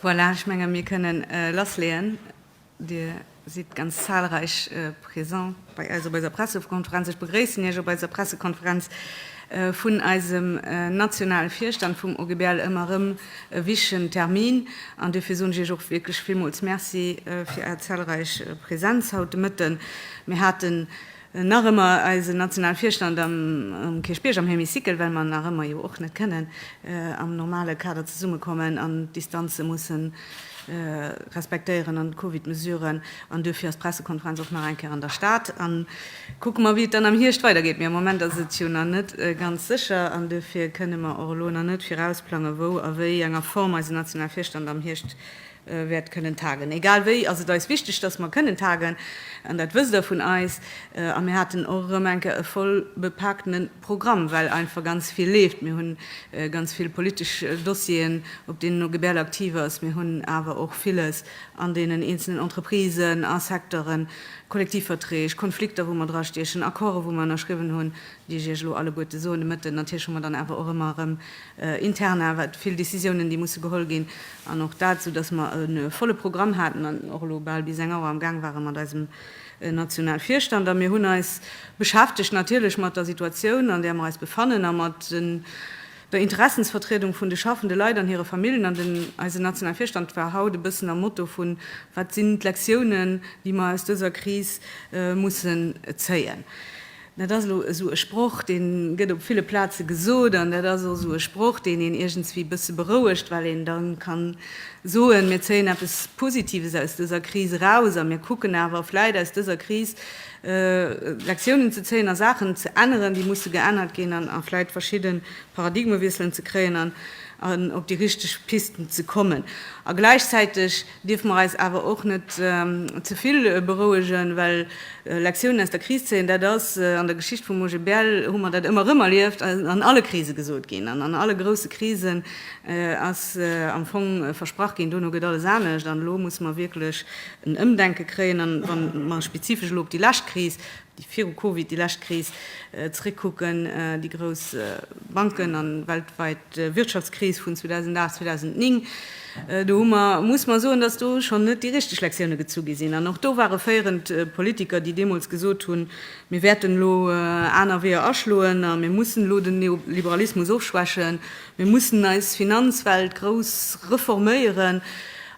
Voilà, ech menge mir kënne lassleeën. Dir sidd ganz zahlreich présent bei eis op eiser Pressekonferenz. Ech begréissen Iech op eiser Pressekonferenz vun eisem nationale Virstand vum OGBL. Ëmmer erëm e wichtigen Termin an duerfir soen ech Iech och wierklech villmools Merci fir Är zahlreich Präsenz haut de Mëtten. Mir haten Nach ëmmer eisen nationale Virstand am Kierchbierg am Hémicycle, well mer nach ëmmer jo och net kënnen am normale Kader zesummekommen an d'Distanze musse respektéieren an d'Covid-Mesuren. An duerfir ass d'Pressekonferenz och nach eng Kéier an der Stad. A kucke mer, wéi et dann am Hierscht weidergeet. Mee am Moment ass et jo nach net ganz sécher an duerfir kënnen mer och elo nach net virausplangen, wou a wéi enger Form eisen nationale Virstand am Hierscht wäert kënnen tagen. Egal wéi ass et eis wichteg, dass mer kënnen tagen, an dat wësst Der vun eis. A mir haten och erëm eng Kéier e voll bepaakte Programm, well einfach ganz vill leeft. Mir hu ganz vill politesch Dossieren, op deenen OGBL aktiv ass. Mir hunn awer och villes an deenen eenzelnen Entreprisen a Secteuren, Kollektivverträg, Konflikter, wou mer drastiechen, Accorden, wou mer ënnerschriwwen hunn, Wéi ech Iech elo alleguerte soen, de Mëtten, natierlech hu mer dann awer och ëmmer erëm intern awer vill Décisiounen, déi musse geholl ginn, an och dat, soudass mer e volle Programm haten an och elo bal bis eng Auer amgaang ware mat eisem Nationalvirstand. A mir hunn eis beschäftegt natierlech mat der Situatioun, an där mer eis befannen, a mat der Interessensvertriedung vun de schaffende Leit an hire Famillen. An den eisen Nationalvirstand war haut e bëssen am Motto vun, Wat sinn d'Lektiounen, déi mer aus dëser Kris mussen zéien? Dat ass elo esou e Sproch, dee gëtt op ville Plaze gesot, an dat ass och esou e Sproch, deen een iergendswéi e bësse berouegt, well een da ka soen, mir zéien eppes Positives aus dëser Kris eraus a mir kucken awer vläit aus dëser Kris Lektiounen ze zéien a Saachen ze änneren, déi musse geännert ginn an a vläit verschidde Paradigmewiesselen ze kréien an op déi richteg Pisten ze kommen. A gläichzäiteg. Dierfe mer eis awer och net ze vill berouegen, well Lektiounen aus der Kris zéien, dat ass an der Geschicht vum OGBL, hu mer dat ëmmer erëm erlieft, ass an alle Krise gesot ginn an an alle grousse Krisen ass am Fong versprach ginn, dono gëtt alles anescht. An elo musse mer wierklech en Ëmdenke kréien. A wa mer spezifesch elo op déi lescht Kris déi viru Covid déi lescht Kris zeréckkucken, déi grouss Banken an weltwäit Wirtschaftskris vun 2008, 2009, do hu mer, muss mer soen, dass do schonn net déi richteg Lektioune gezu gi sinn. An och do ware féierend Politiker, déi deemools gesot hunn, mir wäerten elo aner Weeër aschloen a mir mussen elo den Neoliberalismus ofschwächen, mir mussen eis Finanzwelt grouss reforméieren.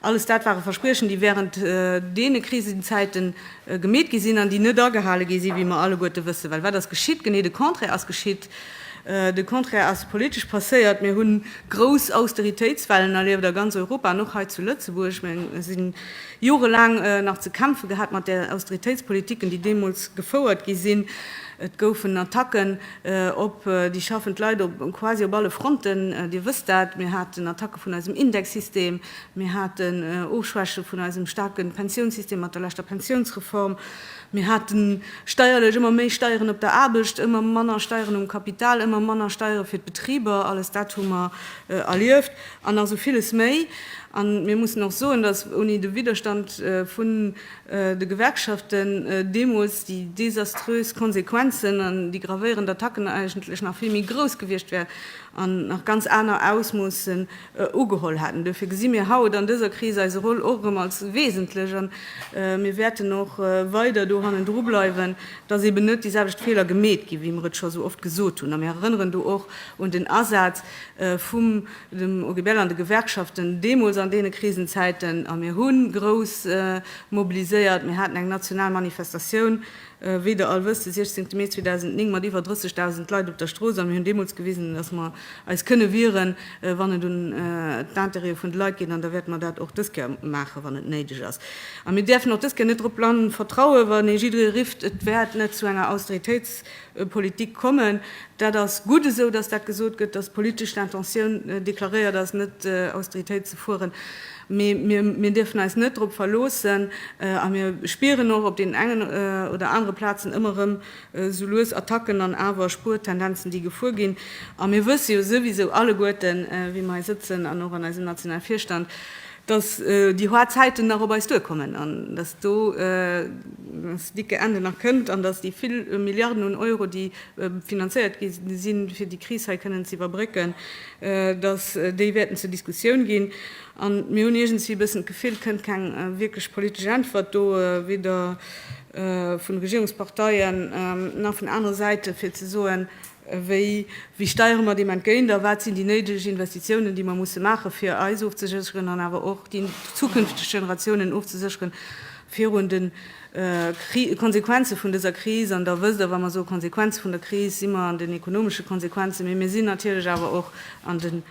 Alles dat ware Verspriechen, déi wärend deene Krisenzäiten, gemeet gi sinn an déi net agehale gi sinn, wéi mer alleguerte wëssen. Well wat ass geschitt? Genee de Contraire ass geschitt. De Contraire ass politesch passéiert. Mir hu grouss Austeritéitswellen erlieft a ganz Europa an och hei zu Lëtzebuerg. Mir si jorelaang nach ze kämpfe gehat mat de Austeritéitspolitiken, déi deemools gefouert gi sinn. Et goufen Attacken op déi schaffend Leit quasi op alle Fronten. Dir wësst dat. Mir haten Attacke vun eisem Indexsystem. Mir haten Ofschwäche vun eisem staarke Pensiounssystem mat der leschter Pensiounsreform. Mir hate steierlech ëmmer méi Steieren op der Aarbecht, ëmmer manner Steieren um Kapital, ëmmer manner Steiere fir d'Betriber. Alles dat hu mer erlieft an nach esou villes méi. A mir mussen och soen, datt ouni de Widderstand vun de Gewerkschaften deemools déi desaströs Konsequenzen an déi gravéierend Attacken eigentlech nach vill méi grouss gewiescht wären. an nach ganz aner Ausmoossen ugeholl haten. Duerfir gesi mir haut an dëser Kris eise Rôle och erëm als wesentlech a mir wäerten och weider do hannendru bleiwen, dass eben net déi selwecht Feeler gemeet ginn, wéi mer et scho esou oft gesot hunn. A mir erënneren do och un den Asaz vum dem OGBL an de Gewerkschaften deemools an deene Krisenzäiten. A mir hu grouss mobiliséiert, mir haten eng national Manifestatioun Wéi der all wësst, de 16 Mee 2009 mat iwwer 30.000 Leit op der Strooss a mir hunn deemools gewisen, datt mer eis kënne wieren, wann et un d'Intérêtë vun de Leit geet, an da wäerte mer dat och dës Kéier maachen, wann et néideg ass. A mir däerfen och dës Kéier net drop blann vertrauen, wann ee jidderee rifft, et wäert net zu enger Austeritéitspolitik kommen. Dat ass gutt esou, datt dat gesot gëtt, datt d'politesch Intentioun deklaréiert ass, net Austeritéit ze fueren. Mee mir dierfen eis net drop verloossen a mir spieren och op deenen engen oder anere Plazen ëmmer erëm esou lues Attacken an awer Spuertendenzen, déi gefuer ginn. A mir wësse jo souwisou alleguerten, wéi mer hei sëtzen an och an eisem nationale Virstand, dass déi haart Zäiten nach op eis duerkommen an dass do das dicke Ende nach kënnt an dass déi vill Milliarden un Euro, déi finanzéiert gi sinn, fir déi Kris hei kënnen ze iwwerbrécken, datt déi wäerten zur Diskussioun ginn, a mir hunn iergendswéi e bëssen d'Gefill, et kënnt keng wierklech politesch Äntwert do, weder vun de Regierungsparteien nach vun anere Säite fir ze soen, wéi wéi steiere mer deem entgéint a wat sinn déi néideg Investitiounen, déi mer musse maachen, fir eis ofzesécheren an awer och déi zukünfteg Generatiounen ofzesécheren virun de Konsequenze vun dëser Kris, an Der wësst och, wa mer soe Konsequenze vun der Kris, si mer an den ekonomesche Konsequenzen, mee mir sinn natierlech awer och an de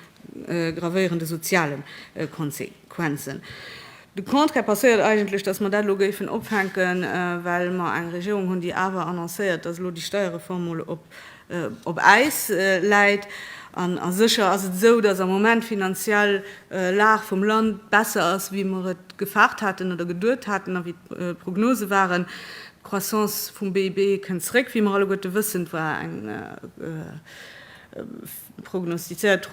gravéierende soziale Konsequenzen. De Contraire passéiert eigentlech, datt mer dat elo géifen opfänken, well mer eng Regierung hunn, déi awer annoncéiert, datt elo déi Steierreform mol op op Äis läit. An sécher ass et esou, datt am Moment d'finanziell Lag vum Land besser ass, wéi mer et gefaart haten oder geduet haten a wéi d'Prognose waren. D'Croissance vum BIP kënnt zeréck, wéi mer alleguerte wëssen. Et war eng prognostizéiert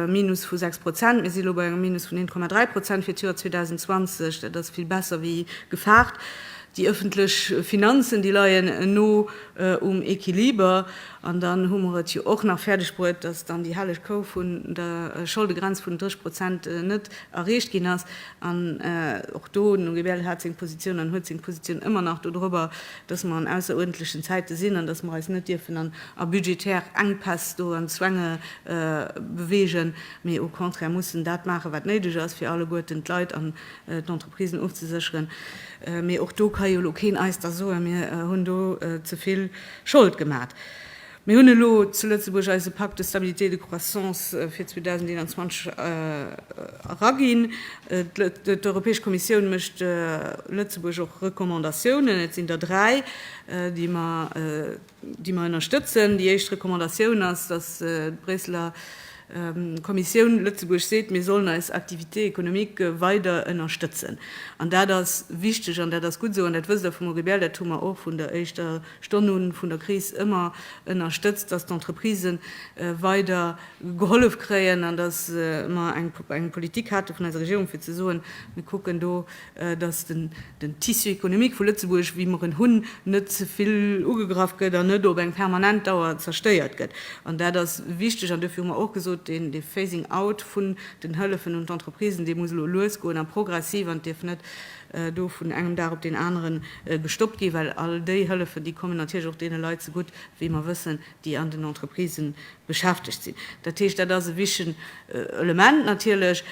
Minus vu 6 Prozent. Mir si lo bei engem Minus vun 1,3 Prozent fir d'Joer 2020. Dat ass vill besser wéi gefaart. Déi ëffentlech Finanzen, déi leien no um Equiliber. An dann hu mer et jo och nach fäerdeg bruet, dass dann déi helleg Kou vun der Scholdegrenz vun den 30 Prozent net erreecht ginn ass. An och do, den Henri Bähl hat seng Positioun an huet seng Positioun ëmmer nach dodrobber, dass mer an ausseruerndlechen Zäite sinn an dass mer eis net dierfen an a budgetär Enkpäss do an Zwänge bewegen, mee au contraire mussen dat maachen, wat néideg ass, fir alleguerten d'Leit an d'Entreprisen ofzesécheren, mee och do ka jo elo keen eis da soen, mir hunn do ze vill Schold gemat. Mir hunn elo zu Lëtzebuerg eise Pacte de stabilité et de croissance fir 2021 eraginn. D'Europäesch Kommissioun mécht Lëtzebuerg och Recommandatiounen, et sinn der dräi, déi mer déi mer ënnerstëtzen. Déi éischt Recommandatioun ass, dass d'Bréisseler Kommissioun Lëtzebuerg seet, mir sollen eis Activité économique weider ënnerstëtzen. An dat ass wichteg an dat ass gutt esou. An dat wësst Der, Frau Muriel, dat hu mer och vun der éischter Stonn u vun der Kris ëmmer ënnerstëtzt, dass d'Entreprisë weider gehollef kréien an dass mer eng Politik hate vun eiser Regierung, fir ze soen, mir kucken do, dass den Tissu économique vu Lëtzebuerg, wéi mer en hunn, net ze vill ugegraff gëtt an net op eng permanent Dauer zerstéiert gëtt. An dat ass wichteg an dofir hu mer och gesot, deen Phasing out vun den Hëllefen un d'Entreprisen, dee muss elo lues goen a progressiv an dierf net do vun engem Dag op deen anere gestoppt ginn, well all déi Hëllefen, déi kommen natierlech och deene Leit zegutt, wéi mer wëssen, déi an den Entreprisë beschäftegt sinn. Dat heescht, dat ass e wichtigen Element natierlech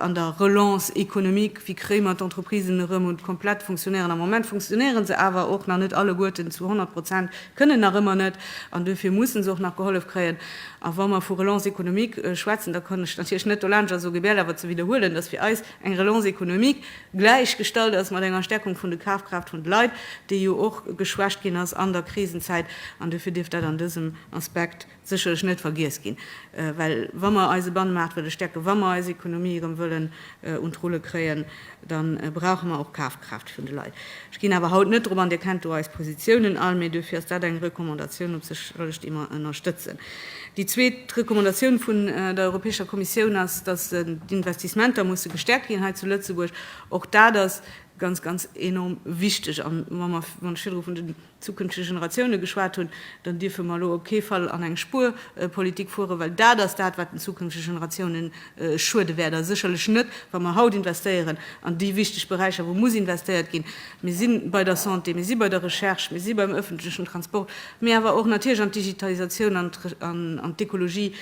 an der Relance économique, Wéi kréie mer d'Entreprisen erëm un d'komplett Funktionéieren? Am Moment funktionéiere se awer och nach net alleguerten zu 100 Prozent, kënnen nach ëmmer net, an duerfir mussen se och nach gehollef kréien. A wa mer vu Relance économique schwätzen, da kann ech natierlech net dolaanscht a sou gebiell awer ze widderhuelen, dass fir eis, eng Relance économique gläichgestallt ass mat enger Stärkung vun de Kafkraaft vun de Leit, déi jo och geschwächt ginn ass an der Krisenzäit. An dofir dierf dat an dësem Aspekt sécherlech net vergiess ginn, well wa mer eise Bannemaart wëlle stäerken, wa mer eis Économie erëm wëllen un d'Rulle kréien, da brauche mer och Kafkraaft. Kraaft vun de Leit. Ech ginn awer haut net drop an, Dir kennt do eis Positiounen all, mee duerfir ass dat eng Recommandatioun op sech alles, déi mer ënnerstëtzen. Déi zweet Recommandatioun vun der Europäescher Kommissioun ass, dass d'Investissementer musse gestäerkt ginn hei zu Lëtzebuerg. Och dat ass ganz, ganz enorm wichteg. A wa mer, wann ech virdru vun den. zukünftege Generatioune geschwat hunn, dann dierfe mer elo op kee Fall an eng Spuerpolitik fueren, well dat ass dat, wat den zukünftege Generatioune schuede wäert, a sécherlech net, wa mer haut investéieren an déi wichteg Beräicher, wou muss investéiert ginn. Mir si bei der Santé, mir si bei der Recherche, mir si beim öffentlechen Transport, mee awer och natierlech an d'Digitalisatioun, an d'Ekologie,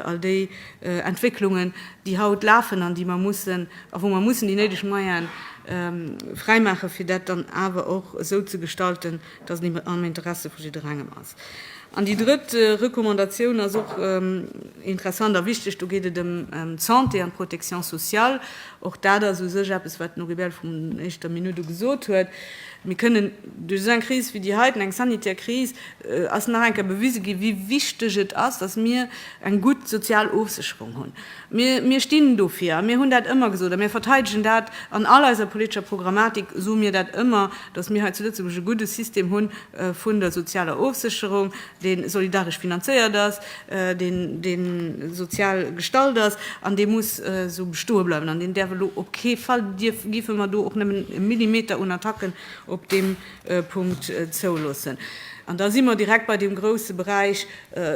all déi Entwécklungen, déi haut lafen an déi mer mussen, a wou mer mussen déi néideg Moyene fräimaachen, fir dat dann awer och esou ze gestalten, dass et am Interessi vu jidderengem ass. An déi drëtt Recommandatioun ass och interessant a wichteg. Do geet et ëm d'Santé an d'Protection sociale. Och dat ass u sech eppes, wat den Noribel vun éischter Minutt u gesot huet. Mir kënnen duerch esou eng Kris wéi déi heiten, eng sanitär Kris, ass nach eng Kéier bewise ginn, wéi wichteg et ass, datt mir eng gutt sozial Ofsécherung hunn. Mir, mir stinn dofir a mir hunn dat ëmmer gesot a mir verteidegen dat. An all eiser politescher Programmatik soe mir dat ëmmer, datt mir hei zu Lëtzebuerg e gudde System hu vun der sozialer Ofsécherung. dee solidaresch finanzéiert ass, dee sozial gestalt ass an dee muss esou bestoe bleiwen an deen däerf elo op kee Fall, dierfe mer do och nëmmen e Millimeter un Attacken op deem Punkt zouloossen. An da si mer direkt bei deem grouse Beräich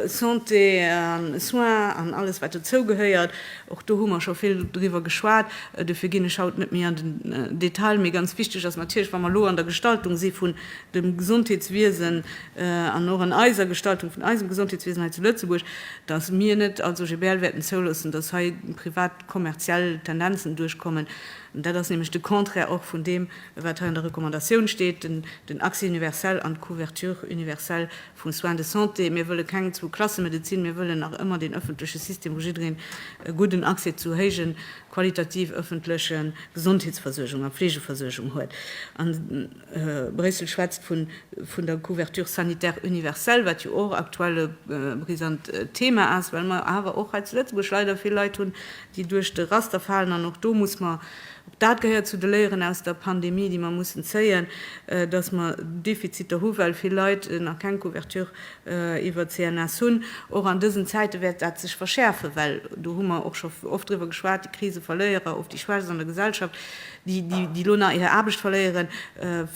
Santé an Soins an alles wat dozou gehéiert. Och do hu mer scho vill driwwer geschwat, dofir ginn ech haut net méi an den Detail. Mee ganz wichteg ass natierlech, wa mer elo an der Gestaltung si vun dem Gesondheetswiesen, an och an eiser Gestaltung vun eisem Gesondheetswiesen hei zu Lëtzebuerg, dass mir net als OGBL wäerten zouloossen, dass hei privat kommerziell Tendenzen duerchkommen. Dat ass nämlech de Contraire och vun deem, wat hei an der Recommandatioun steet, den Accès universel an d'Couverture universelle vum Soins de santé. Mir wëlle keng Zwou-Klasse-Medezin. Mir wëllen nach ëmmer deen ëffentleche System, wou jiddereen e gudden Accès zu héije qualitativ ëffentleche Gesondheetsversuergung a Fleegeversuergung huet. Bréissel schwätzt vun der Couverture sanitaire universelle, wat jo och aktuell e brisant Thema ass, well mer awer och hei zu Lëtzebuerg leider vill Leit hunn, déi duerch de Raster falen. An och do muss mer, och dat gehéiert zu de Léieren aus der Pandemie, déi mer mussen zéien, datt mer Defiziter hu well vill Leit nach keng Couverture iwwer d'CNS hunn. Och an dësen Zäite wäert dat sech verschäerfen, well do hu mer och scho oft driwwer geschwat, déi Kriseverléierer, oft déi Schwächst an der Gesellschaft, déi elo nach hir Aarbecht verléieren,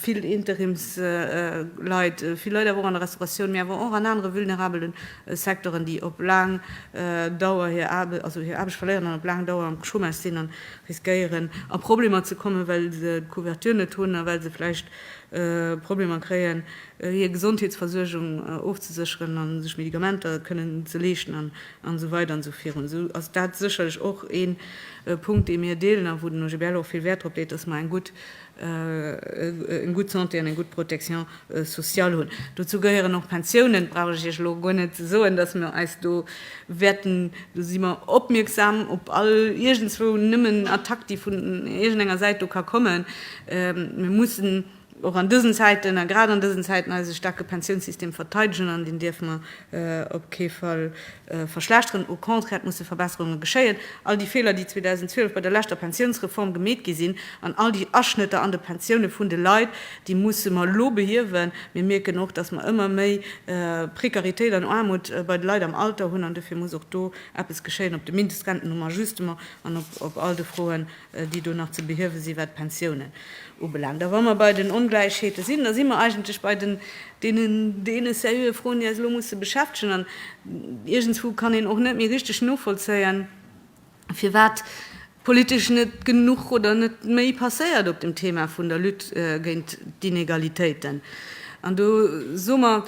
vill Interimsleit, vill Leit awer och an der Restauratioun, mee awer och an anere vulnerabele Secteuren, déi op laang Dauer hir Aarbecht verléieren an op laang Dauer am Chômage sinn a riskéieren, a Problemer ze kommen, well se d'Couverture net hunn a well se vläicht Problemer kréien, hir Gesondheetsversuergung ofzesécheren a sech Medikamenter kënnen ze leeschten. an esou weider an esou virun, esou ass dat sécherlech och ee Punkt, dee mir deelen a wou den OGBL och vill Wäert drop leet, dass mer eng gutt Santé an eng gutt Protection sociale hunn. Dozou gehéieren och d'Pensiounen. Et brauch ech Iech elo guer net ze soen, dass mir eis do wäerten, do si mer opmierksam op all iergendzwou nëmmen Attack, déi vun iergendenger Säit do ka kommen. Mir mussen och an dësen Zäiten, a grad an dësen Zäiten, eise staarke Pensiounssystem verteidegen, an deen dierfe mer op kee Fall verschlechteren. Au contraire, et musse Verbesserunge geschéien. All déi Feeler, déi 2012 bei der leschter Pensiounsreform gemeet gi sinn, an all déi Aschnëtter an de Pensioune vun de Leit, déi musse mer elo behiewen. Mir mierken och, dass mer ëmmer méi Prekaritéit an Aarmut bei de Leit am Alter hunn, an dofir muss och do eppes geschéien, op de Mindestrenten um Ajustement an op all de Froen déi do nach ze behiewe sinn, wat d'Pensiounen ubelaangt. A wa mer bei den Ongläichheete sinn, da si mer eigentlech bei deenen deene Froen, déi eis elo musse beschäftegen. An iergendswou kann een och net méi richteg novollzéien, firwat politesch net genuch oder net méi passéiert op dem Thema vun der Lutte géint d'Inegalitéiten. An do soe mer,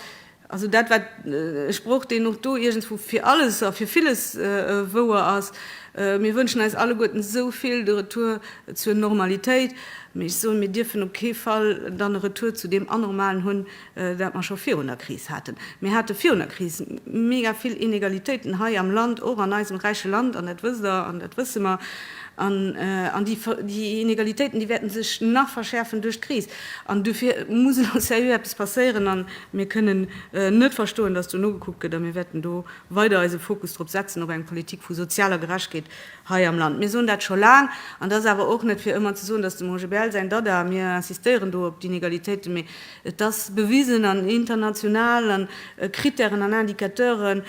Also dat war e Sproch, deen och do iergendswou fir alles a fir villes wouer ass. Mir wënschen eis alleguerten esou vill de Retour zur Normalitéit, mee ech soen, mir dierfen op kee Fall dann e Retour zu deem Anormalen hunn, dat mer scho virun der Kris haten. Mir hate virun der Kris mega vill Inegalitéiten hei am Land, och an eisem räiche Land, an dat wësst Der an dat wësse mer. An déi Inegalitéiten, déi wäerte sech nach verschäerfen duerch d'Kris. An dofir muss elo sérieux eppes passéieren. Mir kënnen net verstoen, dass do nogekuckt gëtt, a mir wäerten do weider eise Fokus drop setzen, op eng Politik vu sozialer Gerechtkeet hei am Land. Mir soen dat scho laang, an et ass awer och net fir ëmmer ze soen, dass dem Roger Bähl säin Dada, mir insistéieren do op d'Inegalitéiten, mee et ass bewisen an international, an Critèren an Indicateure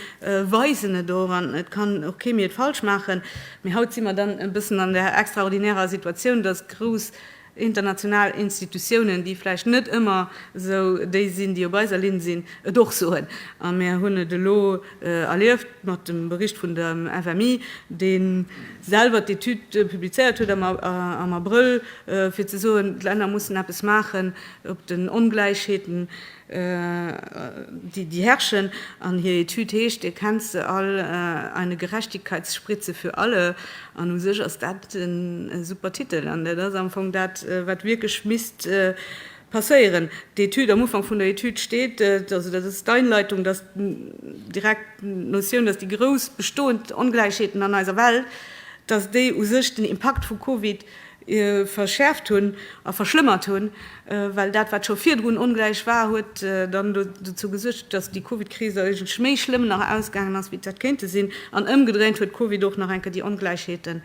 weisen et och, an et kann och kee méi et falsch maachen. Mee haut si mer dann e bëssen an der extraordinärer Situatioun, dass grouss international Institutiounen, déi vläicht net ëmmer esou déi sinn, déi op eiser Linn sinn, et och soen. A mir hunn et elo erlieft mat dem Bericht vun der FMI, dee selwer d'Etüd publizéiert huet am Abrëll, fir ze soen, d'Länner mussen eppes maachen, op den Ongläichheeten déi herrschen, an hir Etüd heescht Erkennt se all? Eine Gerechtigkeitsspritze für alle. An u sech ass dat e super Titel, an dat ass am Fong dat, wat wierklech misst passéieren. D'Etüd, am Ufank vun der Etüd steet, also dat ass d'Einleitung, dass direkt d'Notioun, dass déi grouss bestoend Ongläichheeten an eiser Welt, dass déi u sech den Impakt vu Covid verschäerft hunn a verschlëmmert hunn, well dat, wat scho virdrun ongläich war, huet dann dozou gesuergt, datt déi Covid-Kris eigentlech méi schlëmm nach ausgaangen ass, wéi d'hätt kéinte sinn. An ëmgedréint huet d'Covid och nach eng Kéier déi Ongläichheete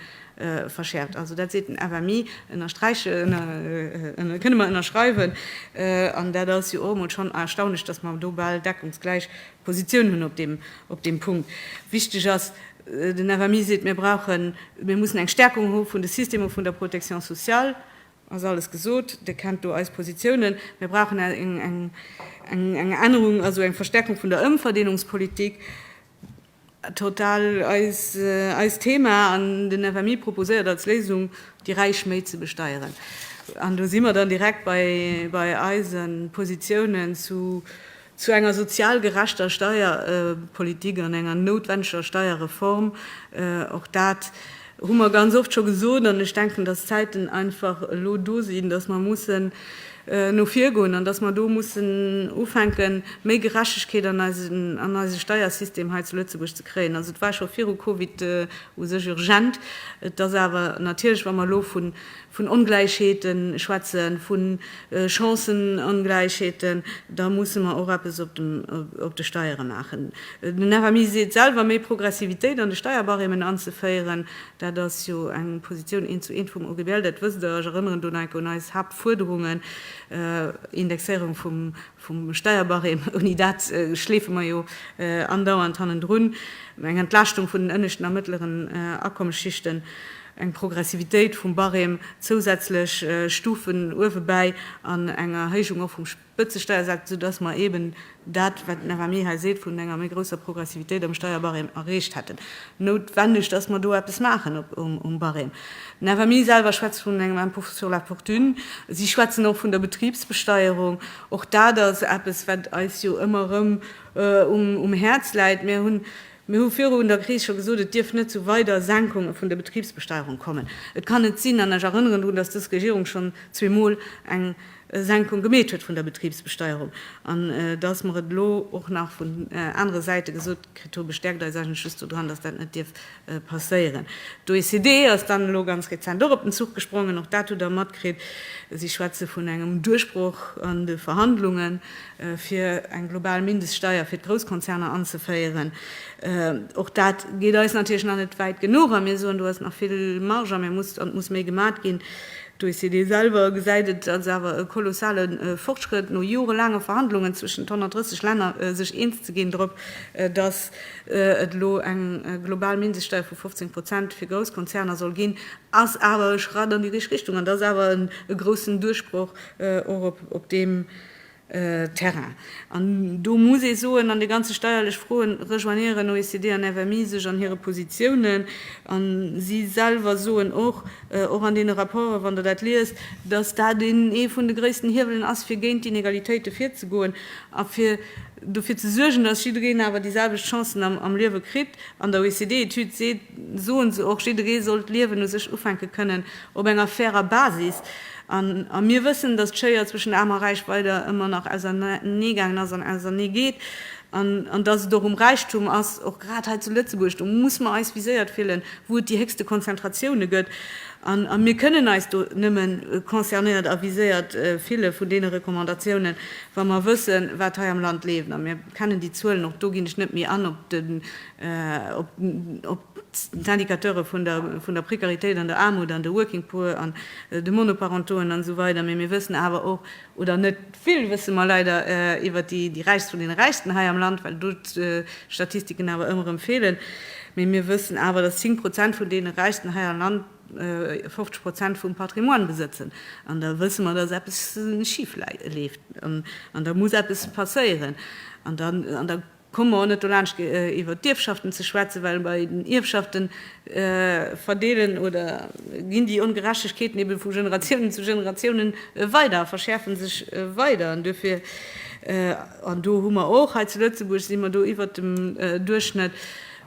verschäerft. Also dat seet den FMI, ënnersträiche kënne mer ënnerschreiwen. An dat ass jo och emol schonn erstaunlech, datt mer do bal deckungsgläich Positioun hunn op deem Punkt. Wichteg ass, den FMI seet, mir brauchen, mir mussen eng Stärkung hu vun de Systemer vun der Protection sociale, ass alles gesot, Dir kennt do eis Positiounen. Mir brauchen eng Ännerung, also eng Verstärkung vun der Ëmverdeelungspolitik. Total eist Thema an den FMI proposéiert als Léisung, déi Räich méi ze besteieren. An do si mer dann direkt bei eise Positiounen zu enger sozial gerechter Steierpolitik an enger noutwendeger Steierreform. Och dat hu mer ganz oft scho gesot, an ech denken, dass d'Zäiten einfach elo do sinn, dass mer mussen no vir goen an dass mer do mussen ufänken, méi Gerechtegkeet an eise Steiersystem hei zu Lëtzebuerg ze kréien. Also et war scho viru Covid u sech urgent, et ass awer natierlech, wa mer elo vu vun Ongläichheete schwätzen, vu Chancënongläichheeten, da musse mer och eppes op de Steiere maachen. Den FMI seet selwer, méi Progressivitéit an de Steierbarêmen anzeféieren, dat ass jo eng Positioun eent zu eent vum OGBL, dat wësst Der. Ech erënneren do nach eng Kéier un eis Haaptfuerderungen, Indexéierung vum Steierbarême, ouni dat schleefe mer jo andauernd hannendrun, eng Entlaaschtung vun den ënneschten a mëttleren Akommesschichten. eng Progressivitéit vum Barème, zousätzlech Stufen uewebäi an eng Erhéijung och vum Spëtzesteiersaz, esou dass mer eeben dat, wat den FMI hei seet, vun enger méi grousser Progressivitéit am Steierbarème erreecht hätten. Noutwenneg, dass mer do eppes maachen um Barème. Den FMI selwer schwätzt vun engem Impôt sur la fortune. Si schwätzen och vun der Betribsbesteierung. Och dat ass eppes, wat eis jo ëmmer erëm um Häerz läit. Mir hunn Mir hu virun der Kris scho gesot, et dierf net zu weider Senkunge vun der Betribsbesteierung kommen. Et kann net sinn, an ech erënneren drun, dass dës Regierung schonn zweemol eng Senkung gemeet huet vun der Betribsbesteierung. An dass mer et elo och nach vun anere Säite gesot kritt hu bestäerkt eis eigentlech just do dran, dass dat net dierf passéieren. D'OECD ass dann elo ganz rezent och op den Zuch gesprongen, och dat hutt Der matkritt. Si schwätze vun engem Duerchbroch an de Verhandlungen. fir eng global Mindeststeuer fir d'Grousskonzerner anzeféieren. Och dat geet eis natierlech nach net wäit genuch a mir soen, do ass nach vill Marge an et muss méi gemat ginn. D'OECD selwer gesäit et als awer e kolossale Fortschrëtt, no jorelaange Verhandlungen zwëschen 130 Länner sech eens ze ginn drop, datt et elo eng global Mindeststeuer vu 15 Prozent fir Grousskonzerner soll ginn, ass awer e Schratt an déi richteg Richtung an et ass awer e groussen Duerchbroch, och op deem. Terrain. An do muss ee soen, an de ganze steierlech Froen rejoignéieren OECD an FMI sech an hire Positiounen. An si selwer soen och, och an deene Rapporten, wann Der dat liest, datt dat ee vun de gréissten Hiewelen ass, fir géint d'Inegalitéite virzegoen a fir dofir ze suergen, datt jiddereen awer déi selwecht Chancen am Liewe kritt. An der OECD-Etüd seet, soen se och, jidderee soll d'Liewen u sech ufänke kënnen op enger fairer Basis. A mir wëssen, dass d'Schéier zwëschen Aarm a Räich weider ëmmer nach auserneegaangen ass an ausernee geet, an dass et och um Räichtum ass, och grad hei zu Lëtzebuerg, do muss mer eis viséiert fillen, wou et déi héchste Konzentratioune gëtt. A mir kënnen eis do nëmme concernéiert a viséiert fille vun deene Recommandatiounen, wa mer wëssen, wat hei am Land leeft. A mir kennen déi Zuelen, och do ginn ech net méi an op de op d'Indicateure vun der Precaritéit an der Aarmut an de Working Poor an de Monoparentauxen an esou weider, mee mir wëssen awer och, oder net vill wësse mer leider iwwert déi Räichst vun deene Räichsten hei am Land, well do d'Statistiken awer ëmmer erëm feelen, mee mir wëssen awer, dass 10 Prozent vun deene Räichsten hei am Land 50 Prozent vum Patrimoine besëtzen. An da wësse mer, dass eppes schif leeft an da muss eppes passéieren. Komme mer och net dolaanscht iwwert d'Ierfschaften ze schwätzen, well bei den Ierfschaften verdeelen oder ginn déi Ongerechtegkeeten ebe vu Generatiounen zu Generatiounen weider a verschäerfe sech weider. An duerfir, an do hu mer och, hei zu Lëtzebuerg si mer do iwwert dem Duerchschnëtt,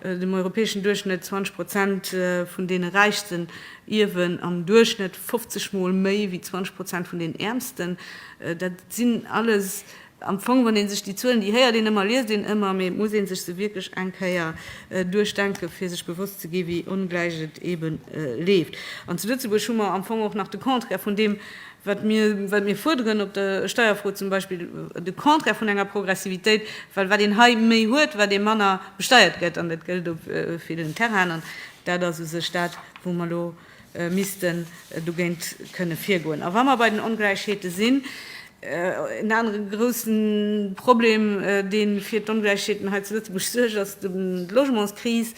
dem europäeschen Duerchschnëtt, 20 Prozent vun deene Räichsten ierwen am Duerchschnëtt 50 Mol méi wéi 20 Prozent vun den Äermsten. Dat sinn alles Am Fong, wann ee sech déi Zuelen, déi héiert een ëmmer, liest een ëmmer, mee et muss ee sech se wierklech eng Kéier duerchdenken, fir sech bewosst ze ginn, wéi ongläich et eeben leeft. An zu Lëtzebuerg hu mer am Fong och nach de Contraire vun deem, wat mir, wat mir fuerderen op der Steierfro zum Beispill, de Contraire vun enger Progressivitéit, well wat een hei méi huet, wat ee manner besteiert gëtt, an dat gëllt op villen Terrainen, dat ass u sech dat, wou mer elo, missten dogéint kënne virgoen. A wa mer bei den Ongläichheete sinn, en anere grouse Problem, dee fir d'Ongläichheeten hei zu Lëtzebuerg suergt, ass d'Logementskris.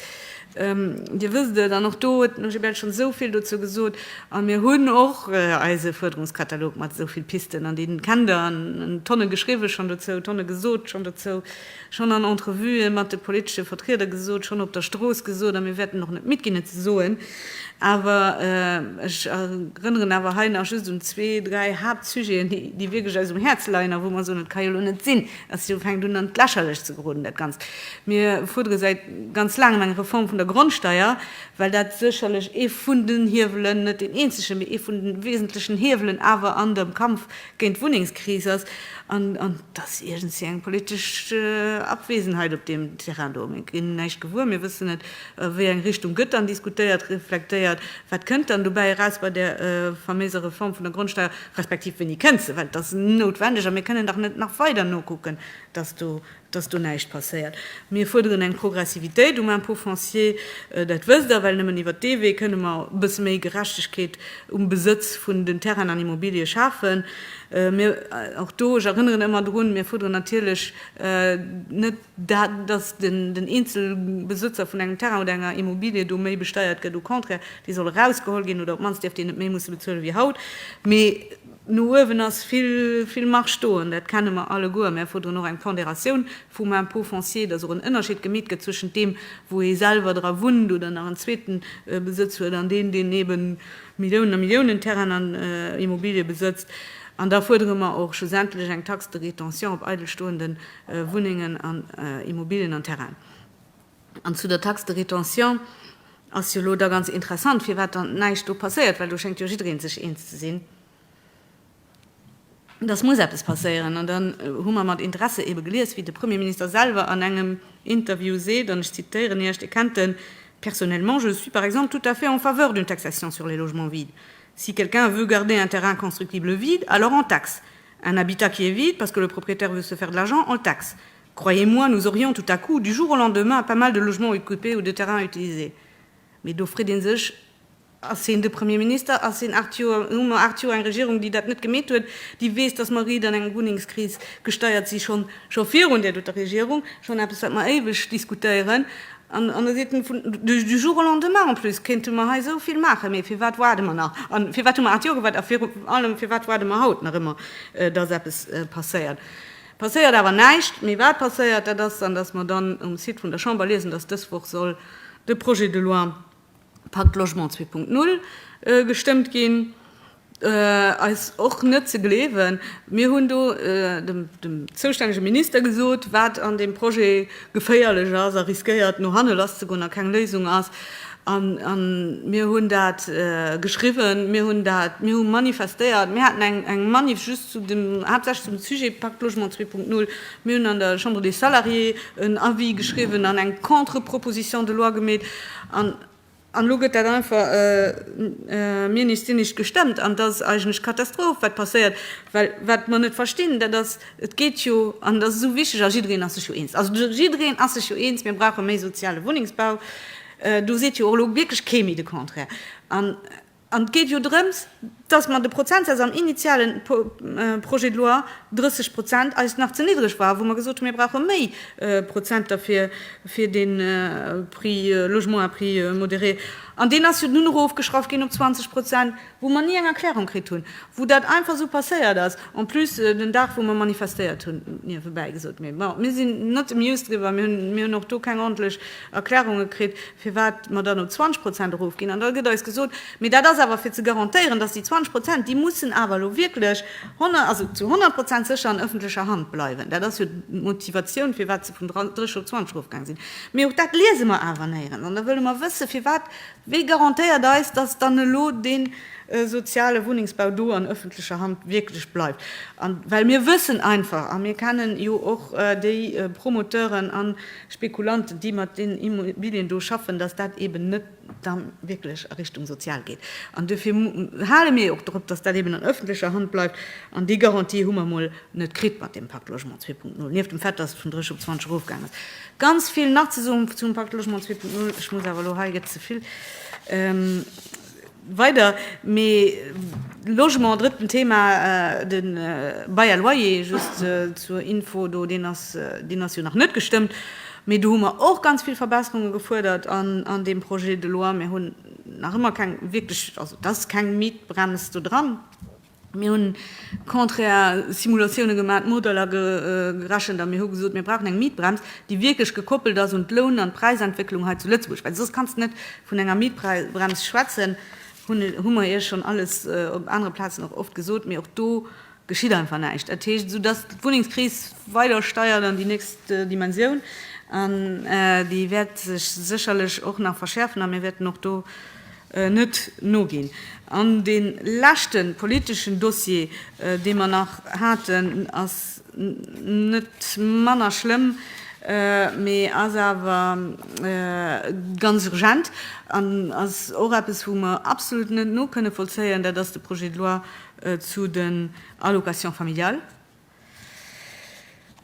Dir wësst et, an och do huet den OGBL schonn esou vill dozou gesot. A mir hunn och eise Fuerderungskatalog mat esou vill Pisten, an dee kennt Der, an Tonne geschriwwen schonn dozou, Tonne gesot schonn dozou. schonn an Entrevuë mat de politesche Vertrieder gesot, schonn op der Strooss gesot a mir wäerten och net midd ginn et ze soen. Awer ech erënneren awer hei nach just un zwee, dräi Haaptsujeten, déi wierklech eis um Häerz leien a wou mer soen, et ka jo elo net sinn, datt et elo fänkt un an d'Lächerlecht ze geroden dat Ganzt. Mir fuerdere säit ganz laangem eng Reform vun der Grondsteier, well dat sécherlech ee vun den Hiewelen, net deen eenzegen, mee ee vun de wesentlechen Hiewelen awer an dem Kampf géint d'Wunnengskris ass an dass iergendwéi eng politesch Abwesenheit op deem Terrain do. Mir ginn näischt gewuer, mir wëssen net, wéi eng Richtung gëtt dann diskutéiert, reflektéiert, wat kënnt dann dobäi eraus bei där faméiser Reform vun der Grondsteuer, respektiv wéini kënnt se, well et ass noutwendeg a mir kënnen dach net nach weider nokucken, dass do dass do näischt passéiert. Mir fuerderen eng Progressivitéit um Impôt foncier, dat wësst Der, well nëmmen iwwert dee Wee kënne mer e bësse méi Gerechtegkeet um Besëtz vun den Terrainen an Immobilië schafen. Mir, och do, ech erënneren ëmmer drun, mir fuerderen natierlech net dat, dass den Eenzelbesëtzer vun engem Terrain oder enger Immobilie do méi besteiert gëtt, au contraire, dee soll erausgeholl ginn oder op d'mannst dierf deen net méi musse bezuele wéi haut, mee, No uewen ass vill Marge do, an dat kenne mer alleguer. Mer fuerderen och eng Ponderatioun vum Impôt foncier, dass och en Ënnerscheed gemeet gëtt zwëschent deem, wou ee selwer dra wunnt oder nach en zweeten Besëtz huet, an deen, deen ebe Milliounen a Milliounen Terrainen an Immobilië besëtzt. An da fuerdere mer och schlussendlech eng Taxe de rétention op eidel stoende Wunnengen an Immobilien an Terrainen. An zu der Taxe de rétention ass jo elo da ganz interessant, firwat dann näischt do passéiert, well do schéngt jo jidderee sech eens ze sinn, dass muss eppes passéieren. An dann hu mer mat Interesse eebe gelies, wéi de Premierminister selwer an engem Interview seet, an ech zitieren Iech, Dir kennt en, Personnellement, je suis par exemple tout à fait en faveur d'une taxation sur les logements vides. Si quelqu'un veut garder un terrain constructible vide, alors on taxe. Un habitat qui est vide parce que le propriétaire veut se faire de l'argent, on le taxe. Croyez-moi, nous aurions tout à coup, du jour au lendemain, pas mal de logements occupés ou de terrains utilisés. Mee do freet ee sech, Ass heen de Premier Minister? Ass heen aacht Joer, hu mer aacht Joer eng Regierung, déi dat net gemeet huet, déi weess, datt mer riit an eng Wunnengskris gesteiert si schonn, scho virun där doter Regierung, schonn eppes, wat mer éiweg diskutéieren? An da seet en, vun, du jour au lendemain, en plus kéinte mer hei esou vill maachen. Mee fir wat waarde mer nach? A fir wat hu mer aacht Joer gewaart? A virun allem, fir wat waarde mer haut nach ëmmer, datt eppes passéiert? Passéiert awer näischt. Mee wat passéiert, dat ass dann, dass mer dann um Site vun der Chamber liesen, dass dës Woch soll de Projet de loi Pacte Logement 2.0 gestëmmt ginn. Eis och net ze gleewen. Mir hunn do dem zoustännege Minister gesot, wat an deem Projet geféierlech ass a riskéiert no hanne lasszegoen a keng Léisung ass, A mir hunn dat geschriwwen, mir hunn dat, mir hu manifestéiert, mir haten eng Manif just zu dem, haaptsächlech zum Sujet Pacte Logement 2.0. Mir hunn an der Chambre des Salariés en Avis geschriwwen an eng Contre-proposition de loi gemeet. An elo gëtt dat einfach mir nees dir nicht gestemmt. An et ass eigentlech Katastroph, wat passéiert. Well wat mer net verstinn, dat ass, et geet jo, an et ass esou wichteg, a jiddereen ass sech jo eens, also jiddereen ass sech jo eens, mir brauche méi soziale Wunnengsbau, Do seet jo och elo wierklech kee méi de Contraire. An et geet jo drëms, dass mer de Prozentsaz am initiale Projet de loi, 30 Prozent, eis nach ze niddreg war, wou mer gesot hunn, mir brauche méi Prozenter fir de Prix logement à prix modéré. An deen ass jo dunn erofgeschraff ginn op 20 Prozent. wou mer ni eng Erklärung kritt hunn, wou dat einfach esou passéiert ass, en plus den Dag wou mer manifestéiert hunn, niewebäi gesot. Mee bon, mir sinn net amused driwwer, mir hunn mir hunn och do keng ordentlech Erklärunge kritt, firwat mer dann op 20 Prozent erofginn. An da gëtt eis gesot, mee dat ass awer fir ze garantéieren, datt déi 20 Prozent, déi mussen awer elo wierklech honner also zu 100 Prozent sécher an ëffentlecher Hand bleiwen. Dat ass jo d'Motivatioun, firwat se vun 30 op 20 erofgaang sinn. Mee och dat liese mer awer néierens. An da wëlle mer wëssen, firwat Wie garantéiert eis, dass dann elo dee soziale Wunnengsbau do an öffentlecher Hand wierklech bleift? Well mir wëssen einfach, a mir kennen jo och déi Promoteuren a Spekulanten, déi mat deenen Immobilien do schaffen, dass dat eeben net da wierklech a Richtung sozial geet. An duerfir hale mir jo och drop, dass dat eeben an öffentlecher Hand bleift. An déi Garantie hu mer emol net kritt mat deem Pacte Logement 2.0, nieft dem Fait, dass et vun 30 op 20 erofgaang ass. Ganz vill nach ze soen zum Pacte Logement 2.0, ech muss awer elo, hei gëtt ze vill weider, mee Logement, drëtten Thema, de Bail à loyer, just zur Info do, deen ass, deen ass jo nach net gestëmmt, mee do hu mer och ganz vill Verbesserunge gefuerdert an deem Projet de loi. Mir hunn nach ëmmer keng wierklech, also et ass keng Mietbrems do dran, Mir hunn contraire Simulatioune gemaat, Modeller gerechent a mir hu gesot, mir brauchen eng Mietbrems, déi wierklech gekoppelt ass un d'Loun an d'Präisentwécklung hei zu Lëtzebuerg, well soss kanns de net vun enger Mietbrems schwätzen, hu mer Iech schonn alles op anere Plazen och oft gesot, mee och do geschitt einfach näischt. Dat heescht, soudass d'Wunnengskris weider steiert an déi nächst Dimensioun an déi wäert sech sécherlech och nach verschäerfen a mir wäerten och do, net noginn. An dee leschte politeschen Dossier, dee mer nach haten, ass net manner schlëmm, mee ass awer ganz urgent an ass och eppes, wou mer absolut net nokënne vollzéien, dat ass de Projet de loi zu den Allocations familiales.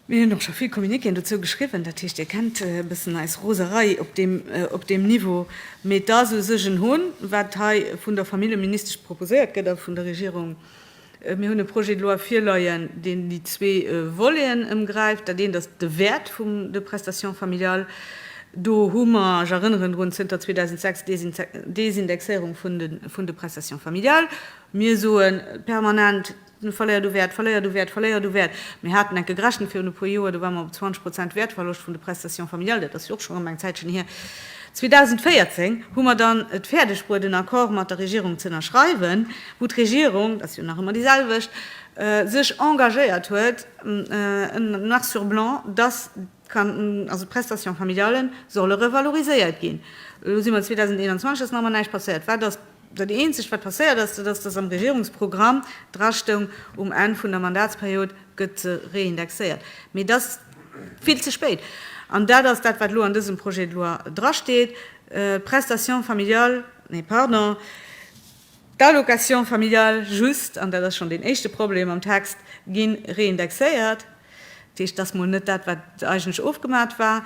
Mir hunn och scho vill Communiquéen dozou geschriwwen, dat heescht Dir kennt e bëssen eis Roserei op deem Niveau. Mee et ass u sech en Hohn, wat hei vun der Familljeministesch proposéiert gëtt a vun der Regierung. Mir hunn e Projet de loi virleien, deen déi zwee Voleten ëmgräift. Dat eent ass de Wäert vum de prestations familiales. Do hu mer, ech erënneren drun, zënter 2006 d'Désindexéierung vun de prestations familiales. Mir soe permanent, Mir verléiert u Wäert, verléiert u Wäert, verléiert u Wäert. Mir haten enke gerechent virun e puer Joer, do ware mer op 20 Prozent Wäertverloscht vun de Prestations familiales, dat ass jo och schonn erëm eng Zäitchen hier. 2014 hu mer dann et fäerdeg bruet en Accord mat der Regierung ze ënnerschreiwen, wou d'Regierung, dat ass jo nach ëmmer déi selwecht, sech engagéiert huet noir sur blanc, dass, Also d'Prestations familiales solle revaloriséiert ginn. Elo si mer 2021, et ass nach ëmmer näischt passéiert. Wat ass dat Eenzegt, wat passéiert ass? Dat ass, datt am Regierungsprogramm dra stoung, um Enn vun der Mandatsperiod gëtt se reindexéiert. Mee et ass vill ze spéit. An dat ass dat, wat elo an dësem Projet de loi drasteet, D'Prestations familiales, nee, pardon, D'Allocations familiales just, an dat ass schonn deen éischte Problem am Text, gi reindexéiert. Dat heescht, et ass mol net dat, wat eigentlech ofgemat war.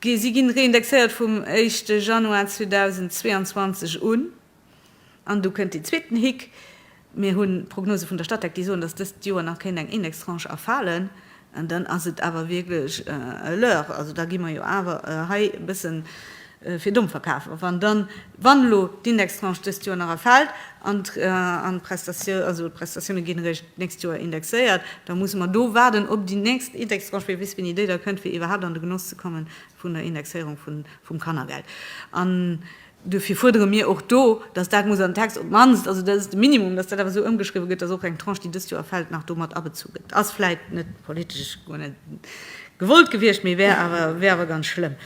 Si ginn reindexéiert vum éischte Januar 2022 un. An du kënnt deen zweeten Hick, Mir hu Prognose vun der Statec, déi soen, dass dëst Joer nach kéint eng Indextranche erfalen. An dann ass et awer wierklech e Leurre. Also da gi mer jo awer hei e bësse fir domm verkafen, wann dann, wann elo d'Indextranche dëst Joer nach erfält an d'Prestatioune ginn eréischt d'nächst Joer indexéiert, da musse mer do waarden op déi nächst Indextranche, wee weess wéini déi da kënnt, fir iwwerhaapt an de Genoss ze komme vun der Indexéierung vum Kannergeld. Duerfir fuerdere mir och do, dass dat muss an den Text op d'mannst, also dat ass de Minimum, dass dat awer esou ëmgeschriwwen gëtt, dass och eng Tranche, déi dëst Joer fält, nach do mat abezu gëtt. Ass vläicht net politesch guer net gewollt gewiescht, mee wär awer, wär awer ganz schlëmm.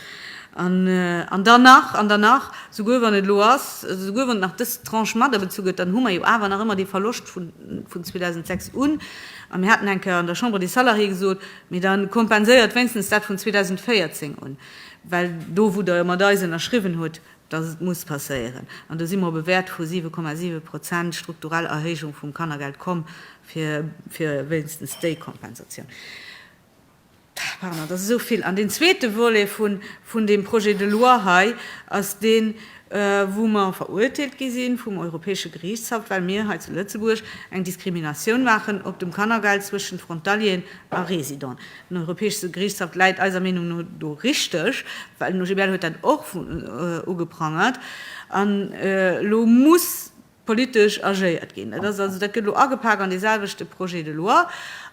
An, an dann nach, an dann nach, souguer wann et elo ass, also souguer wann nach dës Tranche mat abezu gëtt, dann hu mer jo awer nach ëmmer dee Verloscht vun, vun 2006 un. A mir haten eng Kéier an der Chambre des Salariés gesot, Mee da kompenséiert wéinstens dat vun 2014 un. Well do, wou Der mat eis ënnerschriwwen hutt, dass et muss passéieren, an do si mer op e Wäert vu 7,7 Prozent strukturell Erhéijung vum Kannergeld komm, fir wéinstens déi Kompensatioun, pardon, dass esou vill. An deen zweete Volet vun deem Projet de loi hei ass deen, wou mer verurteelt gi si vum Europäesche Geriichtshaff, well mir hei zu Lëtzebuerg eng Diskriminatioun maachen op dem Kannergeld zwëschent Frontalieren a Residenten. Den Europäeschste Geriichtshaff läit eiser Meenung no do richteg, well den OGBL huet dat och ugeprangert. An elo muss politesch agéiert ginn. Dat ass also, dat gëtt elo agepak an deeselwechte Projet de loi.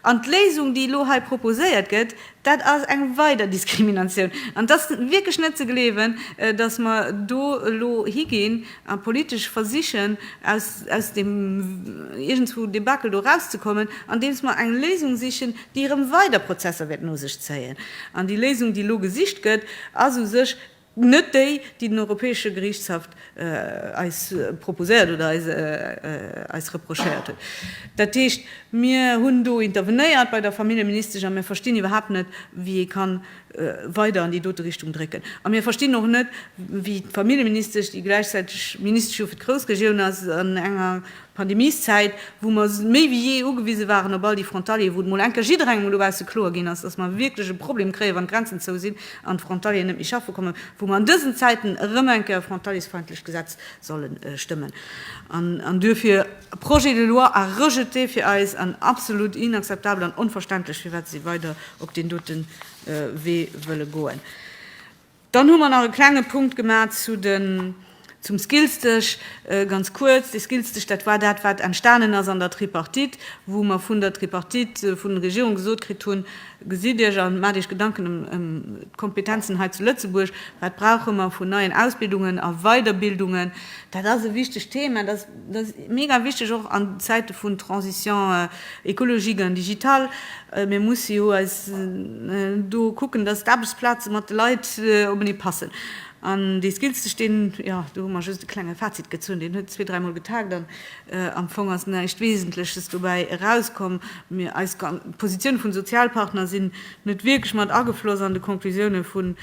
An d'Léisung, déi elo hei proposéiert gëtt, dat ass eng weider Diskriminatioun. An et ass wierklech net ze gleewen, dass mer do elo higinn, A politesch versichen, aus, aus deem iergendswou Debakel do erauszekommen, andeems mer eng Léisung sichen, déi erëm weider Prozesser wäert no sech zéien. An déi Léisung, déi elo gesicht gëtt, ass u sech net déi, déi den Europäesche Geriichtshaff eis proposéiert oder eis, eis reprochéiert huet. Dat heescht, mir hunn do intervenéiert bei der Familljeministesch a mir verstinn iwwerhaapt net, wéi ee kann weider an déi dote Richtung drécken. A mir verstinn och net, wéi d'Familljeministesch, déi gläichzäiteg Ministesch jo fir d'Groussregioun ass, an enger Pandemieszäit, wou mer méi wéi jee ugewise waren op all déi Frontalieren, wou et emol eng Kéier jidderengem elo bausse kloer ginn ass, datt mer wierklech e Problem kréien, wann d'Grenzen zou sinn an d'Frontalieren net méi schaffe kommen, wou mer an dësen Zäiten erëm eng Kéier e frontaliesfeindlecht Gesetz solle stëmmen. An duerfir, Projet de loi à rejeter fir eis an absolut inakzeptabel an onverständlech, firwat se weider op deen doten Wee wëlle goen. Dann hu mer nach e klenge Punkt gemaach zu den, zum Skills-Dësch. Ganz kuerz, dee Skills-Dësch, dat war dat, wat entstanen ass an der Tripartite, wou mer vun der Tripartite, vun der Regierung gesot kritt hunn, Gesitt Iech an maacht Iech Gedanken ëm d'Kompetenzen hei zu Lëtzebuerg, wat brauche mer vun neien Ausbildungen a Weiderbildungen. Dat ass e wichtegt Thema. Dat ass mega wichteg och an Zäite vun Transition écologique an digitale. Mir musse jo eis do kucken, datt d'Aarbechtsplaze mat de Leit openee passen. An dee Skillstech, deen, jo, do hu mer just e klenge Fazit gezunn, deen huet zwee, dräimol getagt an am Fong ass näischt Wesentleches dobäi erauskomm. Eis Positioune vun Sozialpartner sinn net wierklech mat agefloss an de Conclusioune vun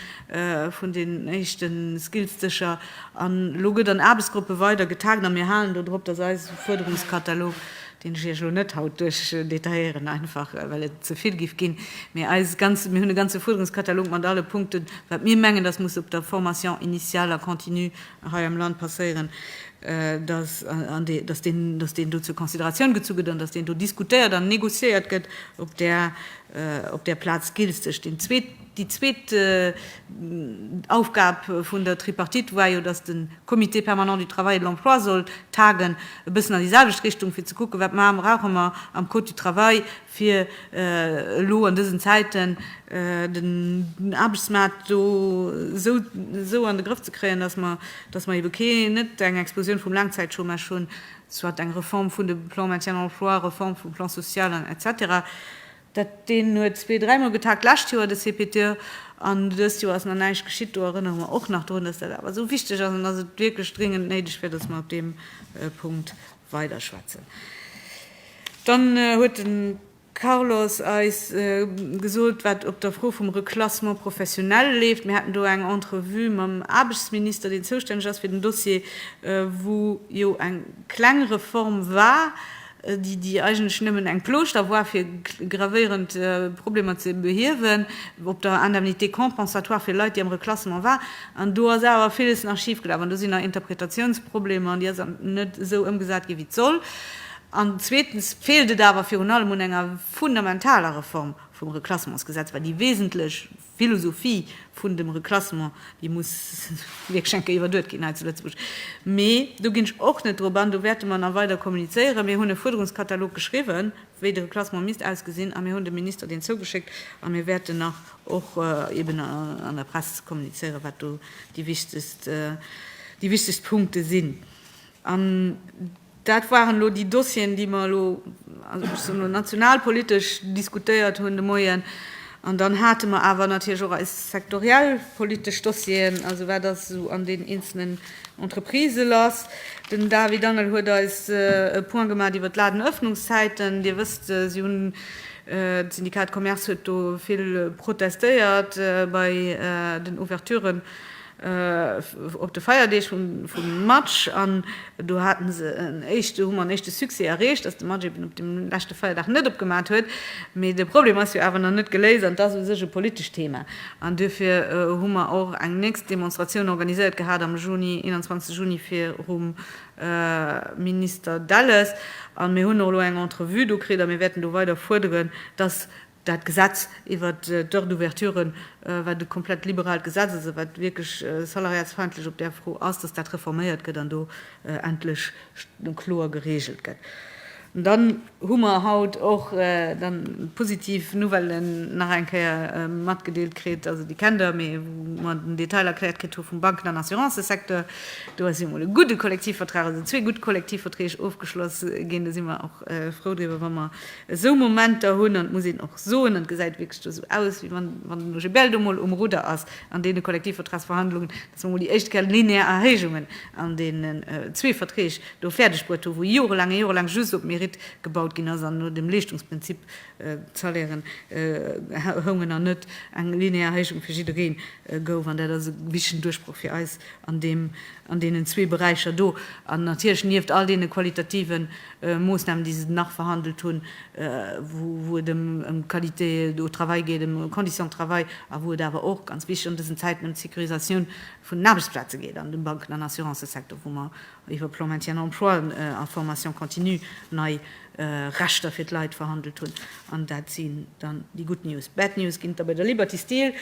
vun den éischte Skills-Dëscher an elo gëtt an Aarbechtsgruppe weider getagt a mir halen do drop, datt eise Fuerderungskatalog, deen ech Iech elo net haut duerchdetailléieren, einfach well et ze vill géif ginn, mee eis ganz, mir hunn e ganze Fuerderungskatalog mat alle Punkten, wat mir mengen, datt muss op der Formation initiale a continue hei am Land passéieren, datt, an dee, datt deen, datt deen do zur Consideratioun gezu gëtt an datt deen do diskutéiert an négociéiert gëtt op där, op där Plaz Skills-Dësch. Deen zweet. Déi zweet Aufgab vun der Tripartite war jo, dass de Comité permanent du travail et de l'emploi soll tagen, e bëssen an déi selwecht Richtung, fir ze kucken, Wat brauche mer am Code du travail, fir elo an dësen Zäiten den Aarbechtsmaart do esou an de Grëff ze kréien, dass mer ebe net eng Explosioun vum Laangzäitchômage hunn, soit eng Reform vun de Plans maintien emploi, Reform vum Plan social, etc. Dat deen huet zwee-, dräimol getagt, lescht Joer de CPT, an dëst Joer ass nach näischt geschitt. Do erënnere mer och nach drun, dass dat awer esou wichteg ass an dass et wierklech dringend néideg wier, dass mer op deem Punkt weiderschwätzen. Dann huet de Carlos eis gesot, wat op der Fro vum Reclassement professionnel leeft. Mir haten do eng Entrevue mam Aarbechtsminister, deen zoustänneg ass fir den Dossier, wou jo eng kleng Reform war, déi eigentlech nëmmen eng Plooschter war fir gravéierend Problemer ze behiewen, op der Indemnité compensatoire fir Leit, déi am Reklassement waren. An do ass awer villes nach schif gelaf an do sinn nach Interpretatiounsproblemer an déi ass net esou ëmgesat ginn, wéi et soll. An zweetens feelt et awer virun allem un enger fundamentaler Reform vum Reklassementsgesetz, well déi wesentlech Philosophie vun dem Reclassement, déi muss wierklech eng Kéier iwwerduet ginn hei zu Lëtzebuerg. Mee do ginn ech och net drop an, do wäerte mer nach weider kommunizéieren. Mir hunn e Fuerderungskatalog geschriwwen, wéi de Reclassement misst ausgesinn, a mir hunn dem Minister deen zougeschéckt. A mir wäerten nach och eben an der Press kommunizéieren, wat do déi wichtegst, déi wichtegst Punkte sinn. Dat waren elo déi Dossieren, déi mer elo, also ech soen elo nationalpolitesch, diskutéiert hunn de Moien. An dann hate mer awer natierlech och eis sektoriell politesch Dossieren, also wat ass esou an deenen eenzelnen Entreprisë lass. Den David Angel huet eis e Point gemaat iwwert d'Ladenëffnungszäiten. Dir wësst, si hunn, d'Syndikat Commerce huet do vill protestéiert bei den Ouverturen. op de Feierdeeg vum Match an do hate se en éischte, hu mer en éischte Succès erreecht, dass de Match eben op deem leschte Feierdag net opgemaat huet. Mee de Problem ass jo awer nach net geléist an et ass u sech e politescht Thema. An duerfir hu mer och eng nächst Demonstratioun organiséiert gehat am Juni, 21 Juni, virum Minister Delles. A mir hunn och elo eng Entrevue do kritt a mir wäerten do weider fuerderen, dass Dat Gesetz iwwer d'Heures d'ouverture war e komplett liberalt Gesetz. Also wat wierklech salariatsfeindlech op där Fro ass, dass dat reforméiert gëtt an do endlech kloer geregelt gëtt. An dann hu mer haut och dann d'positiv Nouvelle nach eng Kéier matgedeelt kritt, also déi kennt Der, mee wou mer den Detail erkläert kritt hu vum Banken an Assurancesecteur. Do ass jo emol e gudde Kollektivvertrag, also zwee gutt Kollektivverträg ofgeschloss ginn. Do si mer och frou driwwer, wa mer Esou Momenter hunn, an et muss een och soen, an et gesäit wierklech do esou aus, wéi wann wann den OGBL do emol um Rudder ass an deene Kollektivvertragsverhandlungen, dass mer emol déi éischt quel linéaire Erhéijungen an deenen zwee Verträg do fäerdeg bruet hu wou jorelaang a jorelaang just op Mérite gebaut ginn ass an no dem Leeschtungsprinzip d'Salairen houngen an net eng linéaire Erhéijung fir jidderee gouf. An dat ass e wichtegen Duerchbroch fir eis an deem an deenen zwee Beräicher do an natierlech nieft all deene qualitativen Moossnamen, déi se nach verhandelt hunn, wou et ëm d'Qualité au travail geet, ëm d'Conditions de travail a wou et awer och, ganz wichteg an dësen Zäiten, ëm d'Sécurisatioun vun den Aarbechtsplaze geet an dem Banken an Assurancësecteur, wou mer iwwer Plan Maintien en emploi a Formation continue nei Rechter fir d'Leit verhandelt hunn. An dat sinn dann déi gutt News. Bad News ginn et da bei der Liberty Steel.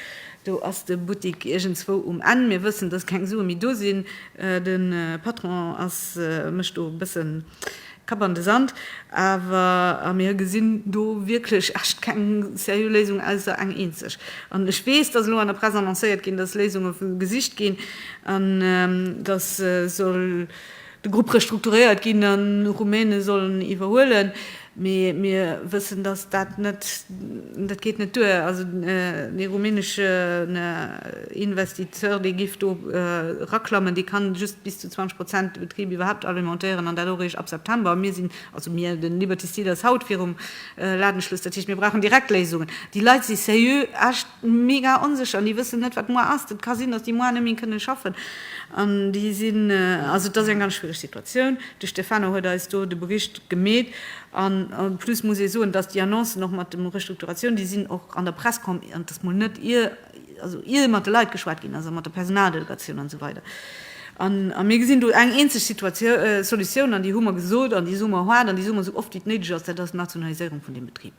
Do ass de Buttik iergendzwou um Enn. Mir wëssen, dass keng Sue méi do sinn. De Patron ass, mécht do e bësse Kapp an de Sand. Awer, a mir gesinn do wierklech echt keng seriö Léisung, ausser eng eenzeg. An ech weess, dass elo an der Press annoncéiert ginn, dass Léisunge gesicht ginn, an dass soll, De Grupp restrukturéiert ginn an Rumäne sollen iwwerhuelen, mee mir wëssen, datt dat net, dat geet net duer. Also dee rumäneschen Investisseur, dee giff do eraklammen, dee kann just bis zu 20 Prozent de Betrib iwwerhaapt alimentéieren an dat och eréischt ab September. A mir sinn, also mir, de Liberty Steel ass haut virum Ladenschluss. Dat heescht, mir brauchen direkt Léisungen. Déi Leit si seriö, echt. mega onsécher an déi wëssen net wat muar ass, et ka sinn datt déi muar net méi kënne schaffen an déi sinn, also et ass eng ganz schwiereg Situatioun. De Stefano huet eis do de Bericht gemeet an en plus muss ee soen, datt déi Annoncen och mat de Restrukturatioun, déi sinn och an der Press komm an et ass mol net ier, also ier mat de Leit geschwat ginn ass a mat der Personaldelegatioun an esou weider a mir gesinn do eng eenzeg Solutioun an déi hu mer gesot an déi soe mer haart an déi soe mer esou oft wéi et néideg ass, dat ass d'Nationaliséierung vun deem Betrib.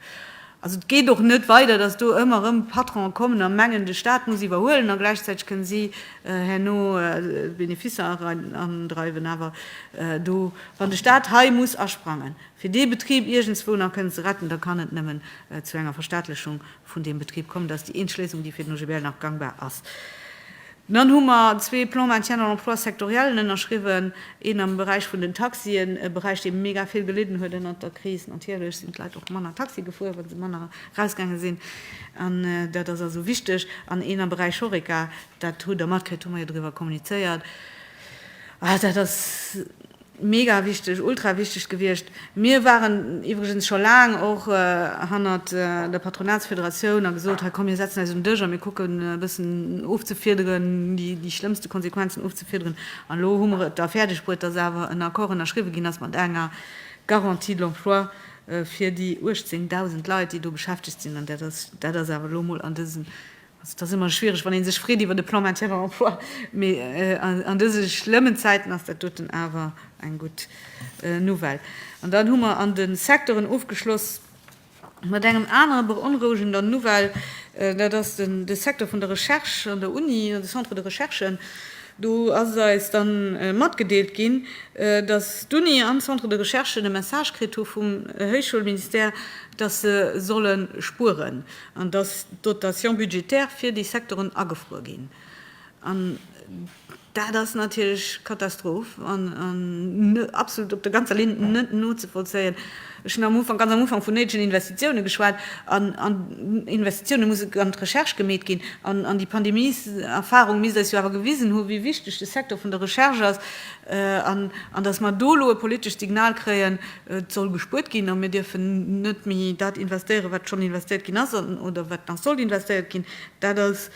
Also et geet och net weider, datt do ëmmer erëm Patrone kommen a mengen, de Staat muss iwwerhuelen a gläichzäiteg kënne si herno Beneficer erandreiwen. Awer do, wann de Staat hei muss asprangen, fir dee Betrib iergendswou nach kënnen ze retten, da kann et nëmmen zu enger Verstaatlechung vun deem Betrib kommen. Dat ass déi eenzeg Léisung, déi fir den OGBL nach gangbar ass. Dann hu mer zwee Plans maintien dans l'emploi sectoriellen ënnerschriwwen, een am Beräich vun den Taxien, e Beräich, dee mega vill gelidden huet ënnert der Kris. Natierlech sinn d'Leit och manner Taxi gefuer, wa se manner erausgaange sinn. An dat ass also wichteg. An een am Beräich Horeca, dat hutt Der matkritt, hu mer jo driwwer kommunizéiert, dat ass, Mega wichteg, ultra wichteg gewiescht. Mir waren iwwregens scho laang och hannert der Patronatsfederatioun a gesot, hei komm mir setzen eis un den Dësch a mir kucken e bëssen ofzefiederen, déi schlëmmste Konsequenzen ofzefiederen. An elo hu mer et da fäerdeg bruet, dass awer en Accord ënnerschriwwen ginn ass mat enger Garantie de l'emploi fir déi 18.000 Leit, déi do beschäftegt sinn. An dat ass awer elo mol an dësem Also et ass ëmmer schwiereg, wann ee sech freet iwwert e Plan Maintien en Emploi, mee an dëse schlëmmen Zäiten ass dat doten awer eng gutt Nouvelle. An dann hu mer an de Secteuren ofgeschloss mat engem anere beonrouegender Nouvelle, dat ass de Secteur vun der Recherche an der Uni, de Centre de Recherche. Do ass eis da matgedeelt ginn, datt d'Uni an d'Centres de recherche e Message kritt hu vum Héichschoulministère, datt se solle spueren. an dass d'Dotations budgétaires fir déi Secteuren agefruer ginn, an dat ass natierlech Katastroph an absolut op der ganzer Linn net nozevollzéien. Ech hunn am Ufank, ganz am Ufank, vun néidegen Investitiounen geschwat, an Investitiounen mussen an d'Recherche gemeet ginn, an déi Pandemieserfahrung misst eis jo awer gewisen hu wéi wichteg de Secteur vun der Recherche ass, an dass mer do elo e politescht Signal kréien, Et soll gespuert ginn a mir dierfen net méi dat investéieren, wat schonn investéiert ginn ass oder wat nach sollt investéiert ginn. Dat ass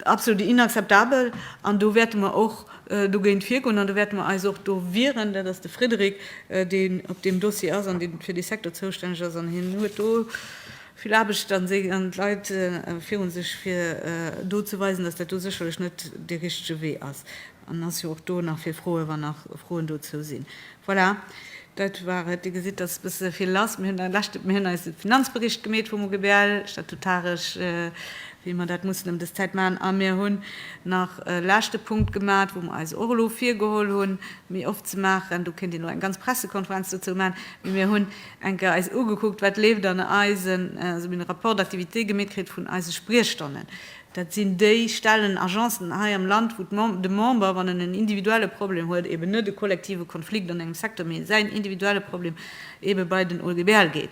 absolut inakzeptabel an do wäerte mer och dogéint virgoen an do wäerte mer eis och do wieren. Dat ass de Frédéric, deen op deem Dossier ass an dee fir dee Secteur zoustänneg ass an hien huet do vill Aarbecht an d'Leit viru sech, fir do ze weisen, datt dat do sécherlech net dee richtege Wee ass. An ass jo och do nach fir Froen, wann nach Froen dozou sinn. Voilà, dat war et. Dir gesitt, dass e bësse vill lass. Mir hunn e leschte, mir hunn eise Finanzbericht gemeet vum OGBL, statutaresch, wéi mer dat mussen ëm dës Zäit maachen. A mir hunn nach e leschte Punkt gemat, wou mer eis och elo virgeholl hunn, méi oft ze maachen. Do kéint een elo eng ganz Pressekonferenz dozou maachen. Mee mir hunn eng Kéier eis ugekuckt, wat leeft an eisen, also mir hunn e Rapport d'activité gemeet kritt vun eise Spriechstonnen, Dat sinn déi Stellen, Agencen hei am Land, wou de Member, wann en en individuelle Problem huet, eben net e kollektive Konflikt an engem Secteur, mee säin individuelle Problem ebe bei den OGBL geet.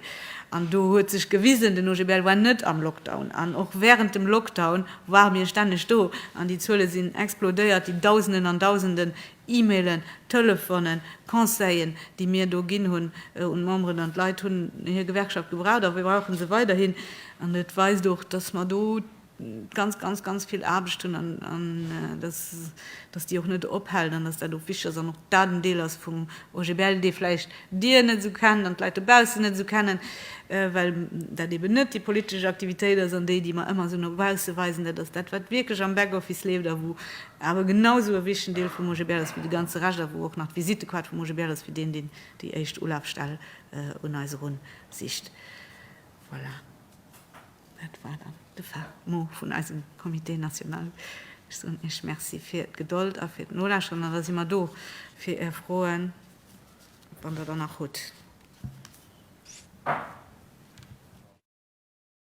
An do huet sech gewisen, den OGBL war net am Lockdown an och während dem Lockdown ware mir stänneg do an déi Zuele sinn explodéiert, déi Dausenden an Dausenden E-Mailen, Telefonen, Conseillen, déi mir do ginn hunn un d'Memberen, an d'Leit hunn hir Gewerkschaft gebraucht a brauche se weiderhin. An et weist och, dass mer do ganz, ganz, ganz vill Aarbecht hunn an dass déi och net ophält an dass dat och wichtig ass an och dat en Deel ass vum OGBL, dee vläicht Dir net esou kennt an d'Leit dobaussen net esou kennen, well dat eeben net déi politesch Aktivitéit ass an déi, déi mer ëmmer esou no bausse weisen. Dat ass dat, wat wierklech am Backoffice leeft a wou awer genau esou e wichtegen Deel vum OGBL ass wéi de ganze Rescht, a wou och nach d'Visitekaart vum OGBL ass fir deen, deen déi éischt Ulafstell un eis erun sicht. Voilà, dat war dann de fin mot vun eisem Comité national. Ech soen Iech Merci fir d'Gedold a fir d'Nolauschteren, an da si mer do fir Är Froen, wann Der der nach hutt.